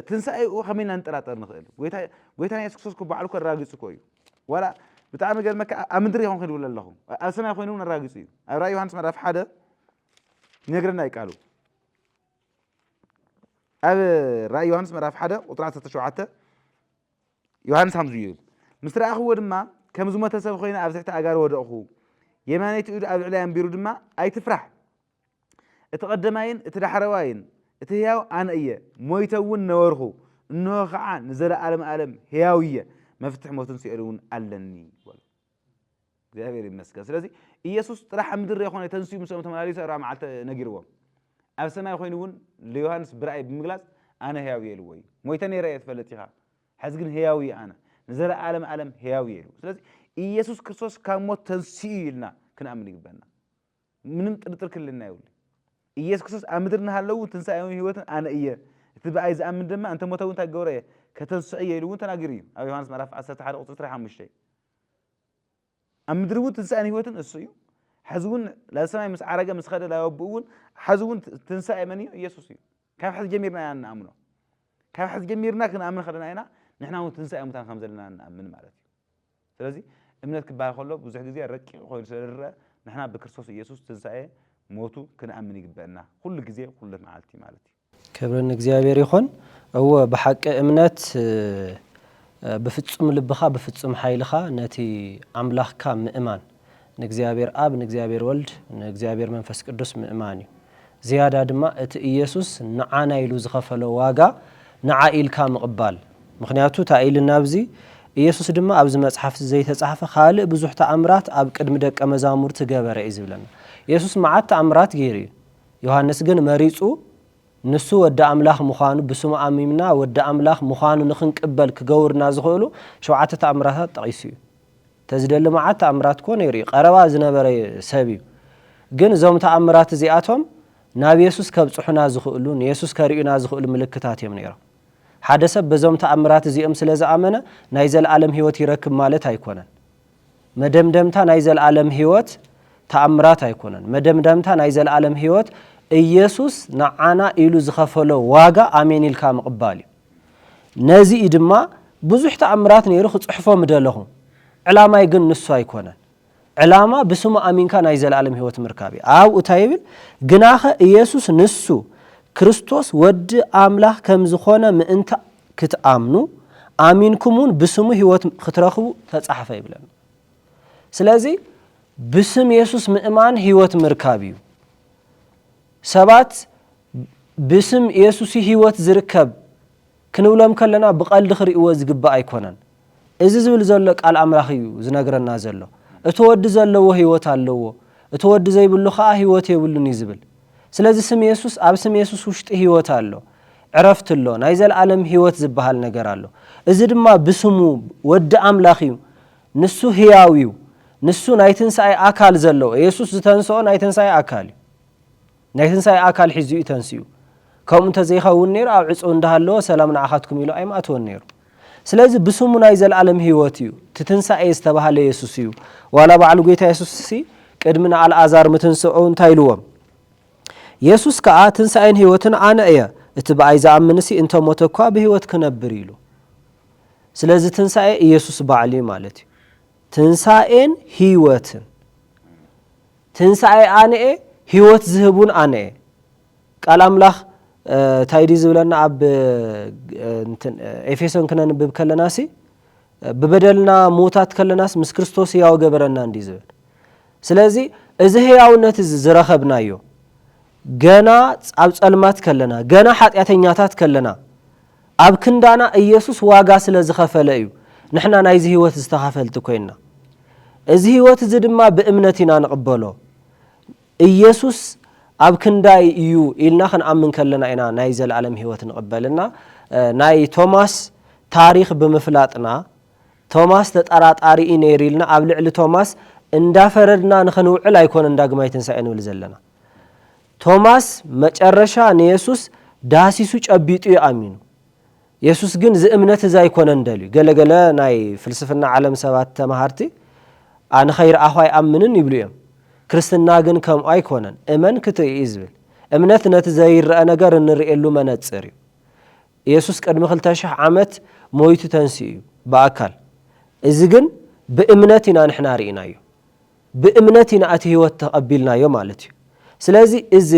ትንሳኤኡ ከመይ ኢና ንጠራጠር ንኽእል ጎይታ ጎይታና ኢየሱስ ክርስቶስ ባዕሉ እኮ ኣራጊጹ እኮ እዩ ዋላ ብጣዕሚ ገርመካ ኣብ ምድሪ ይኹን ክድብል ኣለኹ ኣብ ሰማይ ኮይኑ እውን ኣራጊጹ እዩ ኣብ ራእይ ዮሃንስ ምዕራፍ ሓደ ይነግረና እዩ ቃሉ ኣብ ራእይ ዮሃንስ ምዕራፍ ሓደ ቁጥሪ 17 ዮሃንስ ሓምሱ እዩ። ምስ ረኣኽዎ ድማ ከም ዝሞተ ሰብ ዀይነ ኣብ ትሕቲ ኣእጋሩ ወደቕኹ። የማነይቲ ኢዱ ኣብ ልዕለይ ኣንቢሩ ድማ፣ ኣይትፍራሕ! እቲ ቐደማይን እቲ ዳሕረዋይን፣ እቲ ህያው ኣነ እየ። ሞይተ እውን ነበርኹ፣ እንሆ ኸዓ ንዘለኣለመ ኣለም ህያው እየ፣ መፍትሕ ሞትን ሲኦልን እውን ኣለኒ በሎ። እግዚኣብሔር ይመስገን ስለዚ ኢየሱስ ጥራሕ ኣብ ምድሪ ዘይኮነ ተንስኡ ምስኦም ተመላሊሰ እራ መዓልተ ነጊርዎም ኣብ ሰማይ ኮይኑ እውን ንዮሃንስ ብራእይ ብምግላጽ ኣነ ህያው እየ ኢልዎ እዩ ሞይተ ነይረ እየ ትፈልጥ ኢኻ ሕዚ ግን ህያው እየ ኣነ ንዘለኣለም ኣለም ህያው እየ ኢሉ ስለዚ ኢየሱስ ክርስቶስ ካብ ሞት ተንስኡ ኢልና ክንኣምን ይግበና ምንም ጥርጥር ክልልና የብሉይ ኢየሱስ ክርስቶስ ኣብ ምድሪ እናሃለው እውን ትንሣኤውን ሕይወትን ኣነ እየ እቲ ብኣይ ዝኣምን ድማ እንተ ሞተ እውን እንታይ ክገብሮ እየ ከተንስዖ እየ ኢሉ እውን ተናጊሩ እዩ ኣብ ዮሐንስ ምዕራፍ 11 ቁፅሪ 25 ኣብ ምድሪ እውን ትንሣኤን ሕይወትን እሱ እዩ ሕዚ እውን ናብ ሰማይ ምስ ዓረገ ምስ ኸደ ናብ ኣቦኡ እውን ሕዚ እውን ትንሣኤ መን እዩ ኢየሱስ እዩ ካብ ሕዚ ጀሚርና ኢና ንኣምኖ ካብ ሕዚ ጀሚርና ክንኣምን ከለና ኢና ንሕና እውን ትንሣኤ ሙታን ከም ዘለና ንኣምን ማለት እዩ ስለዚ እምነት ክበሃል ከሎ ብዙሕ ግዜ ረቂቕ ኮይኑ ስለ ዝርኣ ንሕና ብክርስቶስ ኢየሱስ ትንሳኤ ሞቱ ክንኣምን ይግበእና ኩሉ ግዜ ኩሉ መዓልቲ ማለት እዩ። ክብሪ ንእግዚኣብሔር ይኹን እወ ብሓቂ እምነት ብፍጹም ልብኻ ብፍጹም ሓይልኻ ነቲ ኣምላኽካ ምእማን ንእግዚኣብሔር ኣብ፣ ንእግዚኣብሔር ወልድ፣ ንእግዚኣብሔር መንፈስ ቅዱስ ምእማን እዩ። ዝያዳ ድማ እቲ ኢየሱስ ንዓና ኢሉ ዝኸፈሎ ዋጋ ንዓ ኢልካ ምቕባል። ምኽንያቱ ታይ ኢልና ኣብዚ ኢየሱስ ድማ ኣብዚ መጽሓፍዚ ዘይተጻሕፈ ካልእ ብዙሕ ተኣምራት ኣብ ቅድሚ ደቀ መዛሙርቲ ገበረ እዩ ዝብለና። ኢየሱስ መዓት ተኣምራት ገይሩ እዩ። ዮሐንስ ግን መሪጹ ንሱ ወዲ ኣምላኽ ምዃኑ ብስሙ ኣሚምና ወዲ ኣምላኽ ምዃኑ ንኽንቅበል ክገቡርና ዝኽእሉ ሸውዓተ ተኣምራታት ጠቒሱ እዩ። ተዝደሊ መዓት ተኣምራት እኮ ነይሩ እዩ ቀረባ ዝነበረ ሰብ እዩ ግን እዞም ተኣምራት እዚኣቶም ናብ የሱስ ከብጽሑና ዝኽእሉ ንየሱስ ከርእዩና ዝኽእሉ ምልክታት እዮም ነይሮም ሓደ ሰብ በዞም ተኣምራት እዚኦም ስለ ዝኣመነ ናይ ዘልኣለም ህይወት ይረክብ ማለት ኣይኮነን መደምደምታ ናይ ዘልኣለም ህይወት ተኣምራት ኣይኮነን መደምደምታ ናይ ዘልኣለም ህይወት ኢየሱስ ንዓና ኢሉ ዝኸፈሎ ዋጋ ኣሜን ኢልካ ምቕባል እዩ ነዚ እዩ ድማ ብዙሕ ተኣምራት ነይሩ ክጽሕፎ ምደለኹ። ዕላማይ ግን ንሱ ኣይኮነን። ዕላማ ብስሙ ኣሚንካ ናይ ዘለኣለም ህይወት ምርካብ እዩ። ኣብኡ እንታይ ይብል? ግናኸ ኢየሱስ ንሱ ክርስቶስ ወዲ ኣምላኽ ከም ዝኾነ ምእንቲ ክትኣምኑ፣ ኣሚንኩም እውን ብስሙ ህይወት ክትረኽቡ ተጻሕፈ ይብለና። ስለዚ ብስም የሱስ ምእማን ህይወት ምርካብ እዩ። ሰባት ብስም የሱሲ ህይወት ዝርከብ ክንብሎም ከለና ብቀልዲ ክርእይዎ ዝግባእ ኣይኮነን እዚ ዝብል ዘሎ ቃል ኣምላኽ እዩ ዝነግረና ዘሎ እቲ ወዲ ዘለዎ ህይወት ኣለዎ እቲ ወዲ ዘይብሉ ከኣ ህይወት የብሉን እዩ ዝብል ስለዚ ስም የሱስ ኣብ ስም የሱስ ውሽጢ ህይወት ኣሎ ዕረፍቲ ኣሎ ናይ ዘለኣለም ህይወት ዝበሃል ነገር ኣሎ እዚ ድማ ብስሙ ወዲ ኣምላኽ እዩ ንሱ ህያው እዩ ንሱ ናይ ትንሳኤ ኣካል ዘለዎ የሱስ ዝተንስኦ ናይ ትንሳኤ ኣካል እዩ ናይ ትንሳኤ ኣካል ሒዙ እዩ ተንሲኡ። ከምኡ እንተ ዘይኸውን ነይሩ ኣብ ዕጽው እንዳ ሃለወ ሰላም ንዓኻትኩም ኢሉ ኣይምኣተወን ነይሩ። ስለዚ ብስሙ ናይ ዘልኣለም ህይወት እዩ። እቲ ትንሳኤ ዝተባህለ የሱስ እዩ። ዋላ ባዕሉ ጎይታ የሱስሲ ቅድሚ ንኣልኣዛር ምትንስኡ እንታይ ኢልዎም? የሱስ ከኣ ትንሳኤን ህይወትን ኣነ እየ፣ እቲ ብኣይ ዝኣምንሲ እንተ ሞተ እኳ ብህይወት ክነብር ኢሉ። ስለዚ ትንሳኤ ኢየሱስ ባዕሉ እዩ ማለት እዩ። ትንሳኤን ህይወትን። ትንሣኤ ኣነ'የ ሕይወት ዝህብ ውን ኣነ'የ። ቃል ኣምላኽ ታይ ድዩ ዝብለና ኣብ ኤፌሶን ክነንብብ ከለናሲ ብበደልና ምዉታት ከለናስ ምስ ክርስቶስ ሕያው ገበረና እንድዩ ዝብል ስለዚ እዚ ሕያውነት እዚ ዝረኸብናዮ ገና ኣብ ጸልማት ከለና፣ ገና ሓጢኣተኛታት ከለና፣ ኣብ ክንዳና ኢየሱስ ዋጋ ስለ ዝኸፈለ እዩ ንሕና ናይዚ ሕይወት ዝተኻፈልቲ ኮይንና። እዚ ሕይወት እዚ ድማ ብእምነት ኢና ንቕበሎ። ኢየሱስ ኣብ ክንዳይ እዩ ኢልና ክንኣምን ከለና ኢና ናይ ዘለኣለም ሕይወት ንቕበል እና ናይ ቶማስ ታሪኽ ብምፍላጥና ቶማስ ተጠራጣሪ እዩ ነይሩ ኢልና ኣብ ልዕሊ ቶማስ እንዳፈረድና ንኽንውዕል ኣይኮነን ዳግማይ ትንሣኤ ንብል ዘለና። ቶማስ መጨረሻ ንየሱስ ዳህሲሱ ጨቢጡ እዩ ኣሚኑ። የሱስ ግን እዚ እምነት እዚ ኣይኮነን ደልዩ። ገለ ገለ ናይ ፍልስፍና ዓለም ሰባት ተማሃርቲ ኣ ንኸይርኣኹ ኣይኣምንን ይብሉ እዮም። ክርስትና ግን ከምኡ ኣይኮነን። እመን ክትርኢ እዩ ዝብል። እምነት ነቲ ዘይረኣ ነገር እንርእየሉ መነጽር እዩ። የሱስ ቅድሚ ክልተ ሽሕ ዓመት ሞይቱ ተንሲኡ እዩ ብኣካል። እዚ ግን ብእምነት ኢና ንሕና ርኢናዮ። ብእምነት ኢና እቲ ህይወት ተቐቢልናዮ ማለት እዩ። ስለዚ እዚ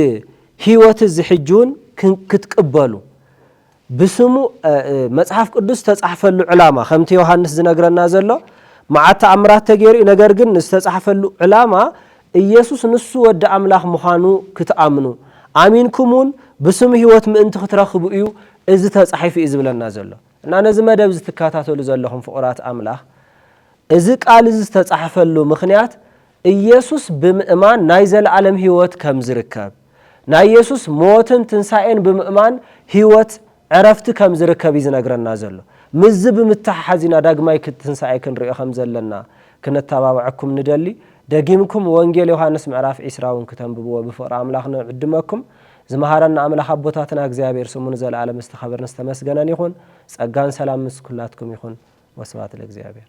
ህይወት እዚ ሕጂ እውን ክትቅበሉ ብስሙ መጽሓፍ ቅዱስ ዝተጻሕፈሉ ዕላማ ከምቲ ዮሃንስ ዝነግረና ዘሎ መዓት ተኣምራት ተገይሩ እዩ። ነገር ግን ዝተጻሕፈሉ ዕላማ ኢየሱስ ንሱ ወዲ ኣምላኽ ምዃኑ ክትኣምኑ ኣሚንኩም እውን ብስሙ ህይወት ምእንቲ ክትረኽቡ እዩ እዚ ተጻሒፉ እዩ ዝብለና ዘሎ። እና ነዚ መደብ እዚ ትካታተሉ ዘለኹም ፍቑራት ኣምላኽ እዚ ቃል እዚ ዝተጻሕፈሉ ምኽንያት ኢየሱስ ብምእማን ናይ ዘለዓለም ሕይወት ከም ዝርከብ ናይ ኢየሱስ ሞትን ትንሣኤን ብምእማን ሕይወት ዕረፍቲ ከም ዝርከብ እዩ ዝነግረና ዘሎ ምስዚ ብምትሕሓዝ ኢና ዳግማይ ትንሣኤ ክንርእዮ ከም ዘለና ክነተባብዐኩም ንደሊ ደጊምኩም ወንጌል ዮሐንስ ምዕራፍ ዒስራ እውን ክተንብብዎ ብፍቕሪ ኣምላኽ ንዕድመኩም ዝመሃረና ኣምላኽ ኣቦታትና እግዚኣብሔር ስሙ ንዘለዓለም ዝተኸበረን ዝተመስገነን ይኹን ጸጋን ሰላም ምስ ኩላትኩም ይኹን ወስብሐት ለእግዚኣብሔር።